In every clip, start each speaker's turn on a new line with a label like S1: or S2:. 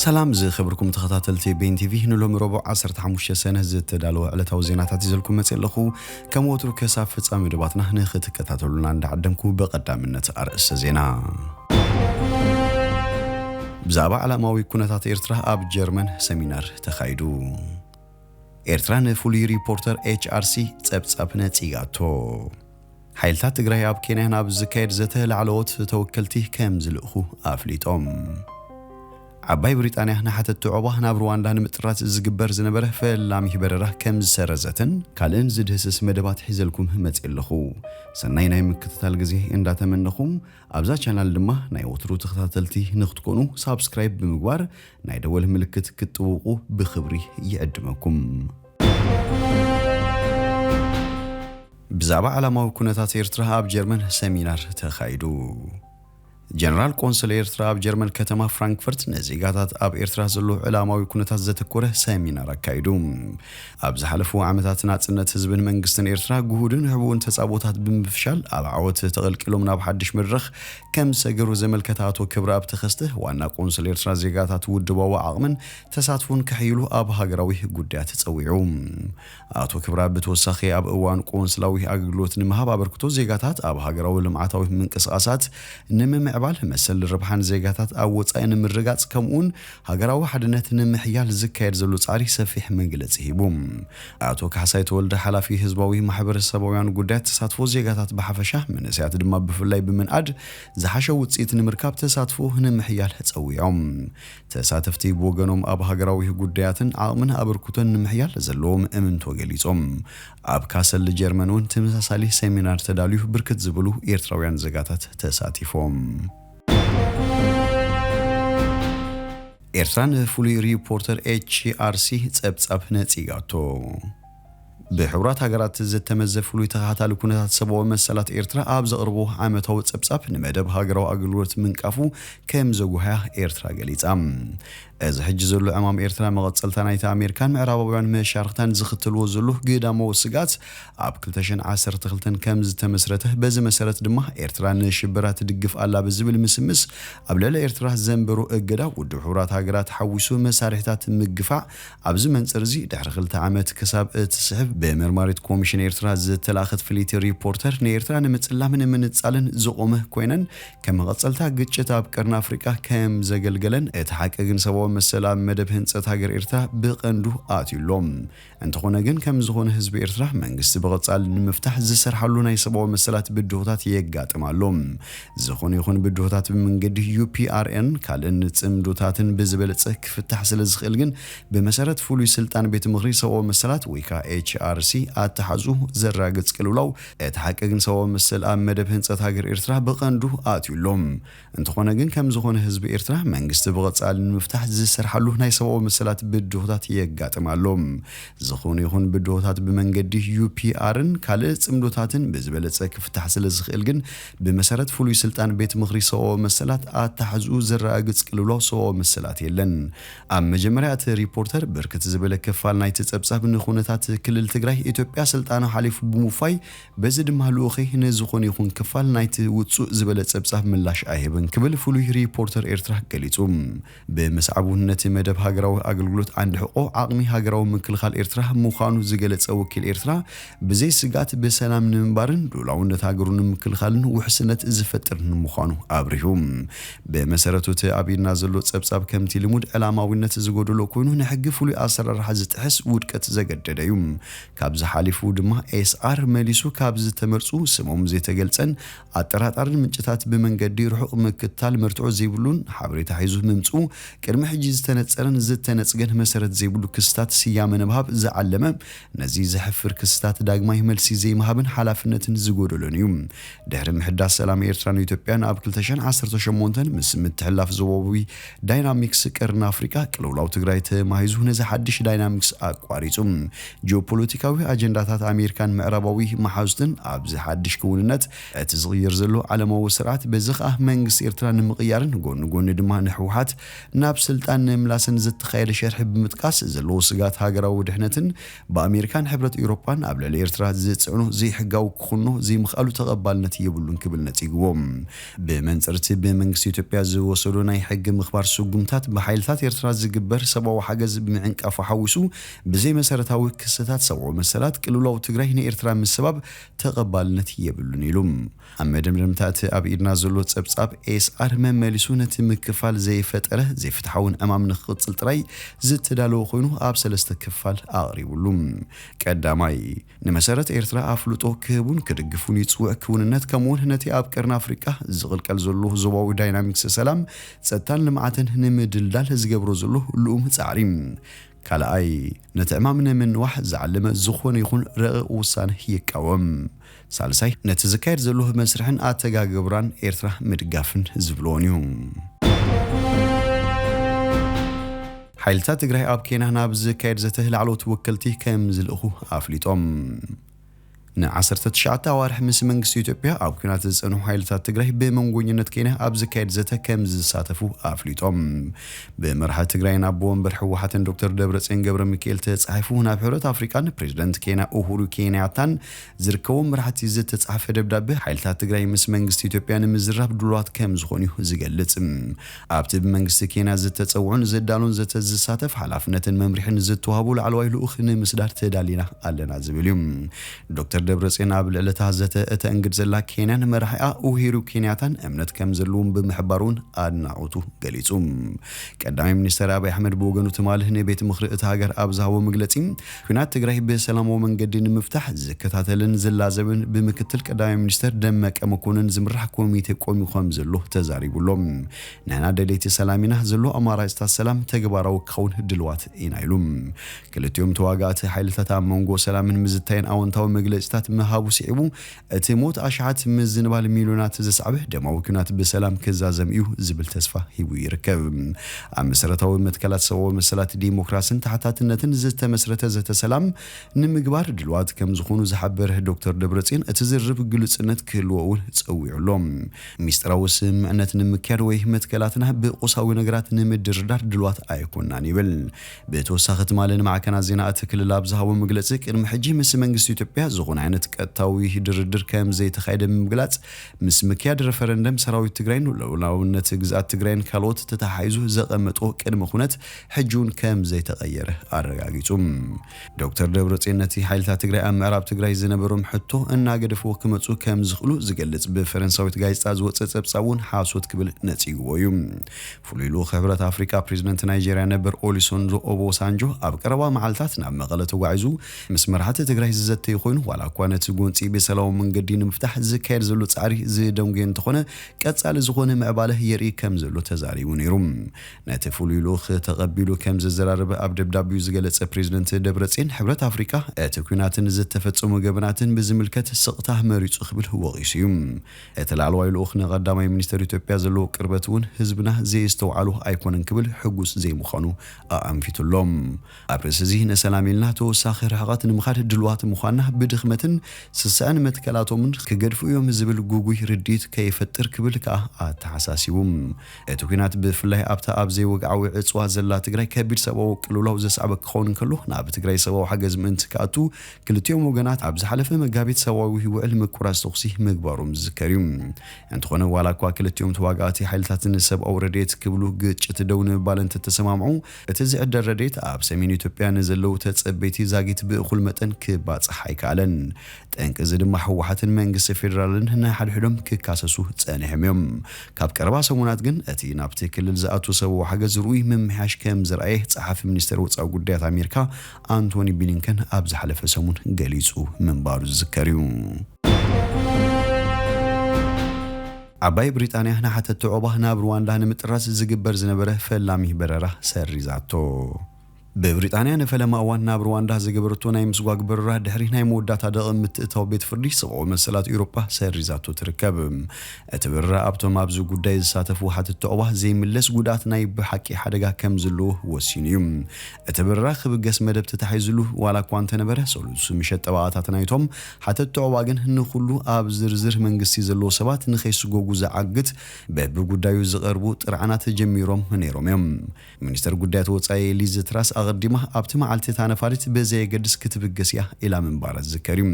S1: ሰላም ዝኸበርኩም ተኸታተልቲ ቤን ቲቪ ንሎሚ ረቡዕ 15 ሰነ ዝተዳለወ ዕለታዊ ዜናታት ይዘልኩም መፅእ ኣለኹ ከም ወትሩ ክሳብ ፍፃሚ መደባትና ንክትከታተሉና እንዳዓደምኩ ብቐዳምነት ኣርእስተ ዜና ብዛዕባ ዓላማዊ ኩነታት ኤርትራ ኣብ ጀርመን ሰሚናር ተኻይዱ። ኤርትራ ንፍሉይ ሪፖርተር ኤችኣርሲ ጸብጻብ ነጺጋቶ። ሓይልታት ትግራይ ኣብ ኬንያ ናብ ዝካየድ ዘተ ላዕለዎት ተወከልቲ ከም ዝልእኹ ኣፍሊጦም። ዓባይ ብሪጣንያ ንሓተትቲ ዑቕባ ናብ ሩዋንዳ ንምጥራት ዝግበር ዝነበረ ፈላሚ በረራ ከም ዝሰረዘትን ካልእን ዝድህስስ መደባት ሒዘልኩም መጺኤ ኣለኹ። ሰናይ ናይ ምክትታል ግዜ እንዳተመነኹ ኣብዛ ቻናል ድማ ናይ ወትሩ ተኸታተልቲ ንክትኮኑ ሳብስክራይብ ብምግባር ናይ ደወል ምልክት ክትጥውቑ ብኽብሪ ይዕድመኩም። ብዛዕባ ዓላማዊ ኩነታት ኤርትራ ኣብ ጀርመን ሰሚናር ተኻይዱ። ጀነራል ቆንስል ኤርትራ ኣብ ጀርመን ከተማ ፍራንክፈርት ንዜጋታት ኣብ ኤርትራ ዘሎ ዕላማዊ ኩነታት ዘተኮረ ሰሚናር ኣካይዱ። ኣብ ዝሓለፉ ዓመታት ናጽነት ህዝብን መንግስትን ኤርትራ ግሁድን ሕቡእን ተጻብኦታት ብምፍሻል ኣብ ዓወት ተቐልቂሎም ናብ ሓድሽ መድረኽ ከም ዝሰገሩ ዘመልከተ ኣቶ ክብረኣብ ተኸስተ ዋና ቆንስል ኤርትራ ዜጋታት ውድባዊ ዓቕምን ተሳትፎን ከሕይሉ ኣብ ሃገራዊ ጉዳያት ጸዊዑ። ኣቶ ክብረኣብ ብተወሳኺ ኣብ እዋን ቆንስላዊ ኣገልግሎት ንምሃብ ኣበርክቶ ዜጋታት ኣብ ሃገራዊ ልምዓታዊ ምንቅስቓሳት ንምምዕባል፣ መሰል ረብሓን ዜጋታት ኣብ ወጻኢ ንምርግጋጽ ከምኡ'ውን ሃገራዊ ሓድነት ንምሕያል ዝካየድ ዘሎ ጻዕሪ ሰፊሕ መግለጺ ሂቡ። ኣቶ ካሕሳይ ተወልደ ሓላፊ ህዝባዊ ማሕበረሰባውያን ጉዳያት ተሳትፎ ዜጋታት ብሓፈሻ መንእሰያት ድማ ብፍላይ ብምንኣድ ዝሓሸ ውጽኢት ንምርካብ ተሳትፎ ንምሕያል ጸዊዖም። ተሳተፍቲ ብወገኖም ኣብ ሃገራዊህ ጉዳያትን ዓቕምን ኣበርኩቶን ንምሕያል ዘለዎም እምንቶ ገሊጾም። ኣብ ካሰል ጀርመን እውን ትምሳሳሊ ሰሚናር ተዳልዩ ብርክት ዝበሉ ኤርትራውያን ዘጋታት ተሳቲፎም። ኤርትራ ንፍሉይ ሪፖርተር ኤችኣርሲ ጸብጻብ ነጺጋቶ። ብሕቡራት ሃገራት ዝተመዘ ፍሉይ ተኸታታሊ ኩነታት ሰብኣዊ መሰላት ኤርትራ ኣብ ዘቕርቦ ዓመታዊ ጸብጻብ ንመደብ ሃገራዊ ኣገልግሎት ምንቃፉ ከም ዘጉሃያ ኤርትራ ገሊጻ። እዚ ሕጂ ዘሎ ዕማም ኤርትራ መቐጸልታ ናይቲ ኣሜርካን ምዕራባውያን መሻርኽታን ዝኽተልዎ ዘሎ ግዳማዊ ስግኣት ኣብ ክልተ ሽሕን ዓሰርተ ክልተን ከም ዝተመስረተ በዚ መሰረት ድማ ኤርትራ ንሽበራ ትድግፍ ኣላ ብዝብል ምስምስ ኣብ ልዕሊ ኤርትራ ዘንበሮ እገዳ ውድብ ሕቡራት ሃገራት ሓዊሱ መሳርሒታት ምግፋዕ ኣብዚ መንጽር'ዚ ድሕሪ ክልተ ዓመት ክሳብ እትስሕብ ብመርማሪት ኮሚሽን ኤርትራ ዝተላእከት ፍልይቲ ሪፖርተር ንኤርትራ ንምጽላምን ንምንጻልን ዝቖመ ኮይነን ከም መቐጸልታ ግጭት ኣብ ቀርኒ ኣፍሪቃ ከም ዘገልገለን እቲ ሓቂ ግን ሰብኣዊ መሰል ኣብ መደብ ህንጸት ሃገር ኤርትራ ብቐንዱ ኣትዩ ኣሎ እንተኾነ ግን ከም ዝኾነ ህዝቢ ኤርትራ መንግስቲ ብቐጻሊ ንምፍታሕ ዝሰርሓሉ ናይ ሰብኣዊ መሰላት ብድሆታት የጋጥም ኣሎ ዝኹን ይኹን ብድሆታት ብመንገዲ UPRN ካልእን ጽምዶታትን ብዝበለጸ ክፍታሕ ስለ ዝኽእል ግን ብመሰረት ፍሉይ ስልጣን ቤት ምኽሪ ሰብኣዊ መሰላት ወይ ከኣ HRC ኣተሓዙ ዘራግጽ ቅልውላው እቲ ሓቂ ግን ሰብኣዊ መሰል ኣብ መደብ ህንጸት ሃገር ኤርትራ ብቐንዱ ኣትዩ ኣሎ። እንተኾነ ግን ከም ዝኾነ ህዝቢ ኤርትራ መንግስቲ ብቐጻሊ ንምፍታሕ ዝሰርሓሉ ናይ ሰብኣዊ መሰላት ብድሆታት የጋጥም ኣሎ። ዝኹን ይኹን ብድሆታት ብመንገዲ UPRN ካልእ ጽምዶታትን ብዝበለጸ ክፍታሕ ስለ ዝኽእል ግን ብመሰረት ፍሉይ ስልጣን ቤት ምኽሪ ሰብኣዊ መሰላት ኣተሓሕዝኡ ዘረጋግጽ ቅልውላው ሰብኣዊ መሰላት የለን። ኣብ መጀመርያ እቲ ሪፖርተር ብርክት ዝበለ ክፋል ናይቲ ጸብጻብ ንኩነታት ክልል ትግራይ ኢትዮጵያ ስልጣኑ ሓሊፉ ብምውፋይ በዚ ድማ ልኡኸይ ንዝኾነ ይኹን ክፋል ናይቲ ውጹእ ዝበለ ጸብጻብ ምላሽ ኣይህብን ክብል ፍሉይ ሪፖርተር ኤርትራ ገሊጹ። ብምስዓብ'ውን ነቲ መደብ ሃገራዊ ኣገልግሎት ዓንዲ ሕቆ ዓቕሚ ሃገራዊ ምክልኻል ኤርትራ ምዃኑ ዝገለጸ ወኪል ኤርትራ፣ ብዘይ ስግኣት ብሰላም ንምንባርን ልኡላውነት ሃገሩ ንምክልኻልን ውሕስነት ዝፈጥር ንምዃኑ ኣብሪሁ። ብመሰረቱ እቲ ኣብ ኢድና ዘሎ ጸብጻብ ከምቲ ልሙድ ዕላማዊነት ዝጎደሎ ኮይኑ ንሕጊ ፍሉይ ኣሰራርሓ ዝጥሕስ ውድቀት ዘገደደ እዩ። ካብዚ ሓሊፉ ድማ ኤስኣር መሊሱ ካብ ዝተመርጹ ስሞም ዘይተገልጸን ኣጠራጣርን ምንጭታት ብመንገዲ ርሑቕ ምክትታል መርትዖ ዘይብሉን ሓበሬታ ሒዙ ምምጽኡ ቅድሚ ሕጂ ዝተነጸረን ዝተነጽገን መሰረት ዘይብሉ ክስታት ስያመ ንምሃብ ዝዓለመ ነዚ ዘሕፍር ክስታት ዳግማይ መልሲ ዘይምሃብን ሓላፍነትን ዝጎደሎን እዩ። ድሕሪ ምሕዳስ ሰላም ኤርትራን ኢትዮጵያን ኣብ ክልተ ሽሕን ዓሰርተ ሸሞንተን ምስ ምትሕልላፍ ዞባዊ ዳይናሚክስ ቀርኒ ኣፍሪቃ ቅልውላው ትግራይ ተማሂዙ ነዚ ሓድሽ ዳይናሚክስ ኣቋሪጹ ጂኦፖለቲካዊ ኣጀንዳታት ኣሜሪካን ምዕራባዊ መሓዙትን ኣብዚ ሓድሽ ክውንነት እቲ ዝቕየር ዘሎ ዓለማዊ ስርዓት በዚ ከኣ መንግስቲ ኤርትራ ንምቕያርን ጎኒ ጎኒ ድማ ንሕውሓት ናብ ስልጣን ንምምላስን ዝተኻየደ ሸርሒ ብምጥቃስ ዘለዎ ስግኣት ሃገራዊ ድሕነትን ብኣሜሪካን ሕብረት ኤውሮጳን ኣብ ልዕሊ ኤርትራ ዝጽዕኖ ዘይሕጋዊ ክኹኖ ዘይምኽኣሉ ተቐባልነት የብሉን ክብል ነጺግዎ። ብመንጽር'ቲ ብመንግስቲ ኢትዮጵያ ዝወሰዶ ናይ ሕጊ ምኽባር ስጉምታት ብሓይልታት ኤርትራ ዝግበር ሰብኣዊ ሓገዝ ምዕንቃፉ ሓዊሱ ብዘይመሰረታዊ ክስታት ሰብኣዊ መሰላት ቅልውላው ትግራይ ንኤርትራ ምስባብ ተቐባልነት የብሉን ኢሉ። ኣብ መደምደምታ እቲ ኣብ ኢድና ዘሎ ጸብጻብ ASR መመሊሱ ነቲ ምክፋል ዘይፈጠረ ዘይፍትሓውን ዕማም ንክቕጽል ጥራይ ዝተዳለወ ኮይኑ ኣብ ሰለስተ ክፋል ኣቕሪቡሉ። ቀዳማይ፣ ንመሰረት ኤርትራ ኣፍልጦ ክህቡን ክድግፉን ይጽውዕ ክውንነት ከምኡውን ነቲ ኣብ ቀርኒ ኣፍሪቃ ዝቕልቀል ዘሎ ዞባዊ ዳይናሚክስ ሰላም፣ ጸጥታን ልምዓትን ንምድልዳል ዝገብሮ ዘሎ ልኡም ጻዕሪ። ካልኣይ፣ ነቲ ዕማም ንምንዋሕ ዝዓለመ ዝኾነ ይኹን ረቂቕ ውሳነ ይቃወም። ሳልሳይ፣ ነቲ ዝካየድ ዘሎ መስርሕን ኣተጋግብራን ኤርትራ ምድጋፍን ዝብልዎን እዩ። ሓይልታት ትግራይ ኣብ ኬንያ ናብ ዝካየድ ዘተ ላዕለዎት ወከልቲ ከምዝልእኹ ኣፍሊጦም። ንዓሰርተ ትሽዓተ ኣዋርሕ ምስ መንግስቲ ኢትዮጵያ ኣብ ኲናት ዝጸንሑ ሓይልታት ትግራይ ብመንጎኝነት ኬንያ ኣብ ዝካየድ ዘተ ከምዝሳተፉ ኣፍሊጦም። ብመራሒ ትግራይን ኣቦ ወንበር ህወሓትን ዶክተር ደብረጽዮን ገብረሚካኤል ተጻሒፉ ናብ ሕብረት ኣፍሪቃን ፕሬዝደንት ኬንያ ኡሁሩ ኬንያታን ዝርከቦም መራሕቲ ዝተጻሕፈ ደብዳበ ሓይልታት ትግራይ ምስ መንግስቲ ኢትዮጵያ ንምዝራብ ድሉዋት ከምዝኾኑ'ዩ ዝገልጽ። ኣብቲ ብመንግስቲ ኬንያ ዝተጸውዑን ዝዳሎን ዘተ ዝሳተፍ፣ ሓላፍነትን መምርሒን ዝተዋህቦ ላዕለዋይ ልኡኽ ንምስዳድ ተዳሊና ኣለና ዝብል እዩ። ዶክተር ደብረጽዮን ኣብ ልዕሊ'ታ ዘተ እተእንግድ ዘላ ኬንያን መራሒኣ ኡሂሩ ኬንያታን እምነት ከም ዘለዎም ብምሕባር'ውን ኣድናቖቱ ገሊጹ። ቀዳማይ ሚኒስተር ኣቢይ ኣሕመድ ብወገኑ ትማሊ ንቤት ምኽሪ እታ ሃገር ኣብ ዝሃቦ መግለጺ፣ ኲናት ትግራይ ብሰላማዊ መንገዲ ንምፍታሕ ዝከታተልን ዝላዘብን ብምክትል ቀዳማይ ሚኒስተር ደመቀ መኮንን ዝምራሕ ኮሚቴ ቆሚዩ ከምዘሎ ተዛሪቡ ኣሎ። ንሕና ደለይቲ ሰላም ኢና፣ ዘሎ ኣማራፅታት ሰላም ተግባራዊ ክኸውን ድልዋት ኢና ኢሉ። ክልቲኦም ተዋጋእቲ ሓይልታት ኣብ መንጎ ሰላምን ምዝታይን ኣወንታዊ መግለፂታት ምሃቡ ስዒቡ፣ እቲ ሞት ኣሽሓት ምዝንባል ሚልዮናት ዘስዓበ ደማዊ ኲናት ብሰላም ክዛዘም እዩ ዝብል ተስፋ ሂቡ ይርከብ። ኣብ መሰረታዊ መትከላት ሰብኣዊ መሰላት፣ ዲሞክራስን ተሓታትነትን ዝተመስረተ ዘተ ሰላም ንምግባር ድልዋት ከምዝኾኑ ዝሓበረ ዶክተር ደብረፅዮን እቲ ዝርርብ ግሉፅነት ክህልዎ እውን ፀዊዑ ኣሎ። ሚስጢራዊ ስምምዕነት ንምክያድ ወይ መትከላትና ብቁሳዊ ነገራት ንምድርዳር ድልዋት ኣይኮናን ይብል። ብተወሳኺ ትማሊ ንማዕከናት ዜና እቲ ክልል ኣብ ዝሃቦ መግለጺ፣ ቅድሚ ሕጂ ምስ መንግስቲ ኢትዮጵያ ዝኾነ ዓይነት ቀጥታዊ ድርድር ከም ዘይተኻየደ ብምግላጽ፣ ምስ ምክያድ ረፈረንደም ሰራዊት ትግራይን ሉኣላውነት ግዝኣት ትግራይን ካልኦት ተተሓሒዙ ዘቐመጦ ቅድመ ኩነት ሕጂ'ውን ከም ዘይተቐየረ ኣረጋጊጹ። ዶክተር ደብረጽዮን ነቲ ሓይልታት ትግራይ ኣብ ምዕራብ ትግራይ ዝነበሮም ሕቶ እናገደፍዎ ክመጹ ከም ዝኽእሉ ዝገልጽ ብፈረንሳዊት ጋዜጣ ዝወጸ ጸብጻብ'ውን ሓሶት ክብል ነጺግዎ እዩ። ፍሉይ ልኡኽ ሕብረት ኣፍሪቃ ፕሬዚደንት ናይጀርያ ነበር ኦሊሶንጆ ኦቦሳንጆ ኣብ ቀረባ መዓልታት ናብ መቐለ ተጓዒዙ ምስ መራሕቲ ትግራይ ዝዘተዩ ኮይኑ ዋላ እኳ ነቲ ጎንፂ ብሰላማዊ መንገዲ ንምፍታሕ ዝካየድ ዘሎ ፃዕሪ ዝደንጎየ እንተኾነ ቀፃሊ ዝኾነ ምዕባለ የርኢ ከም ዘሎ ተዛሪቡ ነይሩ። ነቲ ፍሉይ ልኡኽ ተቐቢሉ ከም ዘዘራረበ ኣብ ደብዳቤኡ ዝገለፀ ፕሬዚደንት ደብረፅዮን ሕብረት ኣፍሪቃ እቲ ኲናትን ዝተፈፀሙ ገበናትን ብዝምልከት ስቕታ መሪፁ ክብል ወቒሱ እዩ። እቲ ላዕለዋይ ልኡኽ ንቀዳማይ ሚኒስተር ኢትዮጵያ ዘለዎ ቅርበት እውን ህዝብና ዘየስተውዓሎ ኣይኮነን ክብል ሕጉስ ዘይምዃኑ ኣኣንፊቱ ኣሎ። ኣብ ርእሲ'ዚ ንሰላም ኢልና ተወሳኺ ርሕቐት ንምኻድ ድሉዋት ምዃንና ብድኽመትን ስስዐን መትከላቶምን ክገድፉ እዮም ዝብል ግጉይ ርድኢት ከይፈጥር ክብል ከኣ ኣተሓሳሲቡ። እቲ ኲናት ብፍላይ ኣብታ ኣብ ዘይወግዓዊ ዕጽዋ ዘላ ትግራይ ከቢድ ሰብኣዊ ቅልውላው ዘስዓበ ክኸውን እንከሎ ናብ ትግራይ ሰብኣዊ ሓገዝ ምእንቲ ክኣቱ ክልቲኦም ወገናት ኣብ ዝሓለፈ መጋቢት ሰብኣዊ ውዕል ምቁራጽ ተኹሲ ምግባሮም ዝዝከር እዩ። እንተኾነ ዋላኳ ክልቲኦም ተዋጋእቲ ሓይልታት ንሰብኣዊ ረድኤት ክብሉ ግጭት ደው ንምባል እንተተሰማምዑ፣ እቲ ዝዕደል ረድኤት ኣብ ሰሜን ኢትዮጵያ ንዘለዉ ተጸበይቲ ዛጊት ብእኹል መጠን ክባጻሕ ኣይከኣለን። ጠንቂ እዚ ድማ ህወሓትን መንግስቲ ፌደራልን ንሓድሕዶም ክካሰሱ ጸኒሖም እዮም። ካብ ቀረባ ሰሙናት ግን እቲ ናብቲ ክልል ዝኣቱ ሰብኣዊ ሓገዝ ርኡይ ምምሕያሽ ከምዘርኣየ ጸሓፊ ሚኒስቴር ወጻኢ ጉዳያት ኣሜሪካ ኣንቶኒ ብሊንከን ኣብ ዝሓለፈ ሰሙን ገሊጹ ምንባሩ ዝዝከር እዩ። ዓባይ ብሪጣንያ ንሓተቲ ዑቕባ ናብ ርዋንዳ ንምጥራዝ ዝግበር ዝነበረ ፈላሚ በረራ ሰሪዛቶ። ብብሪጣንያ ንፈለማ እዋን ናብ ርዋንዳ ዝገበረቶ ናይ ምስጓግ በረራ ድሕሪ ናይ መወዳእታ ደቒ ምትእታው ቤት ፍርዲ ሰብኣዊ መሰላት ኤውሮጳ ሰሪዛቶ ትርከብ። እቲ በረራ ኣብቶም ኣብዚ ጉዳይ ዝሳተፉ ሓተቲ ዑቕባ ዘይምለስ ጉድኣት ናይ ብሓቂ ሓደጋ ከም ዘለዎ ወሲኑ እዩ። እቲ በረራ ክብገስ መደብ ተታሒዝሉ ዋላ እኳ እንተነበረ፣ ሰሉስ ምሸት ጠበቓታት ናይቶም ሓተትቲ ዑቕባ ግን ንኹሉ ኣብ ዝርዝር መንግስቲ ዘለዉ ሰባት ንኸይስጎጉ ዝዓግት በብጉዳዩ ዝቐርቡ ጥርዓናት ጀሚሮም ነይሮም እዮም። ሚኒስተር ጉዳያት ወጻኢ ሊዝ ትራስ ኣቐዲማ ኣብቲ መዓልቲ እታ ነፋሪት ብዘየገድስ ክትብገስ እያ ኢላ ምንባራ ዝዝከር እዩ።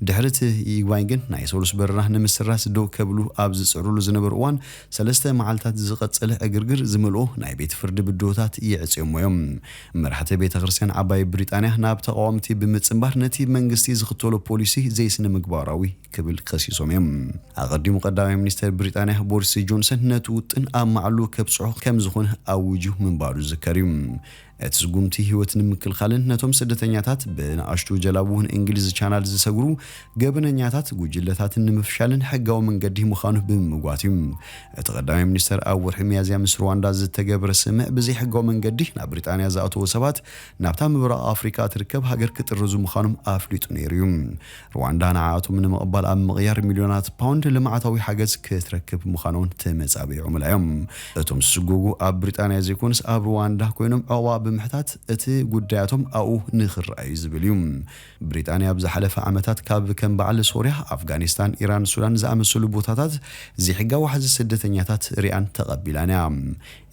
S1: ድሕሪ እቲ ይግባኝ ግን ናይ ሰሉስ በረራ ንምስራዝ ደው ከብሉ ኣብ ዝጽዕርሉ ዝነበሩ እዋን ሰለስተ መዓልታት ዝቐጸለ ዕግርግር ዝመልኦ ናይ ቤት ፍርዲ ብድሆታት የዕጽዮሞ'ዮም። መራሕቲ ቤተ ክርስቲያን ዓባይ ብሪጣንያ ናብ ተቓወምቲ ብምጽንባር ነቲ መንግስቲ ዝኽተሎ ፖሊሲ ዘይስነ-ምግባራዊ ክብል ከሲሶም'ዮም። ኣቐዲሙ ቀዳማይ ሚኒስተር ብሪጣንያ ቦርሲ ጆንሰን ነቲ ውጥን ኣብ ማዕሉ ከብጽሖ ከምዝኾነ ኣዊጁ ምንባሩ ዝዝከር'ዩ። እቲ ስጉምቲ ህይወት ንምክልኻልን ነቶም ስደተኛታት ብንኣሽቱ ጀላቡ ንእንግሊዝ ቻናል ዝሰግሩ ገበነኛታት ጉጅለታትን ንምፍሻልን ሕጋዊ መንገዲ ምዃኑ ብምምጓት እዩ። እቲ ቀዳማይ ሚኒስተር ኣብ ወርሒ ሚያዝያ ምስ ሩዋንዳ ዝተገብረ ስምምዕ ብዘይሕጋዊ መንገዲ ናብ ብሪጣንያ ዝኣተዉ ሰባት ናብታ ምብራቕ ኣፍሪቃ እትርከብ ሃገር ክጥርዙ ምዃኖም ኣፍሊጡ ነይሩ እዩ። ርዋንዳ ንዓኣቶም ንምቕባል ኣብ ምቕያር ሚልዮናት ፓውንድ ልምዓታዊ ሓገዝ ክትረክብ ምዃና'ውን ተመጻቢዖምላ እዮም። እቶም ዝስጎጉ ኣብ ብሪጣንያ ዘይኮኑስ ኣብ ርዋንዳ ኮይኖም ዑቕባ ብምሕታት እቲ ጉዳያቶም ኣብኡ ንኽረኣ'ዩ ዝብል እዩ። ብሪጣንያ ኣብ ዝሓለፈ ዓመታት ካብ ከም በዓል ሶርያ፣ ኣፍጋኒስታን፣ ኢራን፣ ሱዳን ዝኣመሰሉ ቦታታት ዘይሕጋዊ ዋሕዚ ስደተኛታት ሪኣን ተቐቢላን እያ።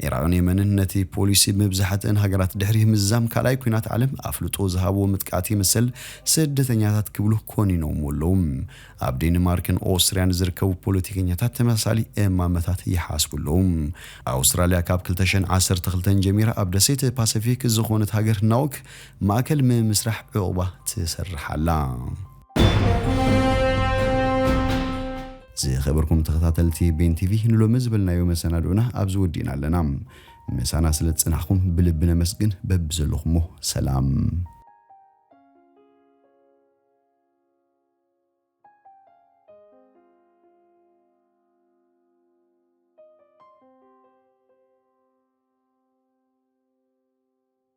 S1: ዒራቕን የመንን ነቲ ፖሊሲ ብመብዛሕትእን ሃገራት ድሕሪ ምዝዛም ካልኣይ ኲናት ዓለም ኣፍልጦ ዝሃብዎ ምጥቃት ይምሰል ስደተኛታት ክብሉ ኮኒኖምዎ ኣለዉ። ኣብ ዴንማርክን ኦስትርያን ዝርከቡ ፖለቲከኛታት ተመሳሳሊ እማመታት ይሓስቡ ኣለዉ። ኣውስትራልያ ካብ ክልተ ሽሕን ዓሰርተ ክልተን ጀሚራ ኣብ ደሴት ፓሰፊክ ዝኾነት ሃገር ናውክ ማእከል ምምስራሕ ዑቕባ ትሰርሕ ኣላ። ዝኸበርኩም ተኸታተልቲ ቤን ቲቪ ንሎሚ ዝበልናዮ መሰናድኡና ኣብዚ ወዲእና ኣለና። ምሳና ስለ ዝጸናሕኩም ብልቢ ነመስግን። በብዘለኹሞ ሰላም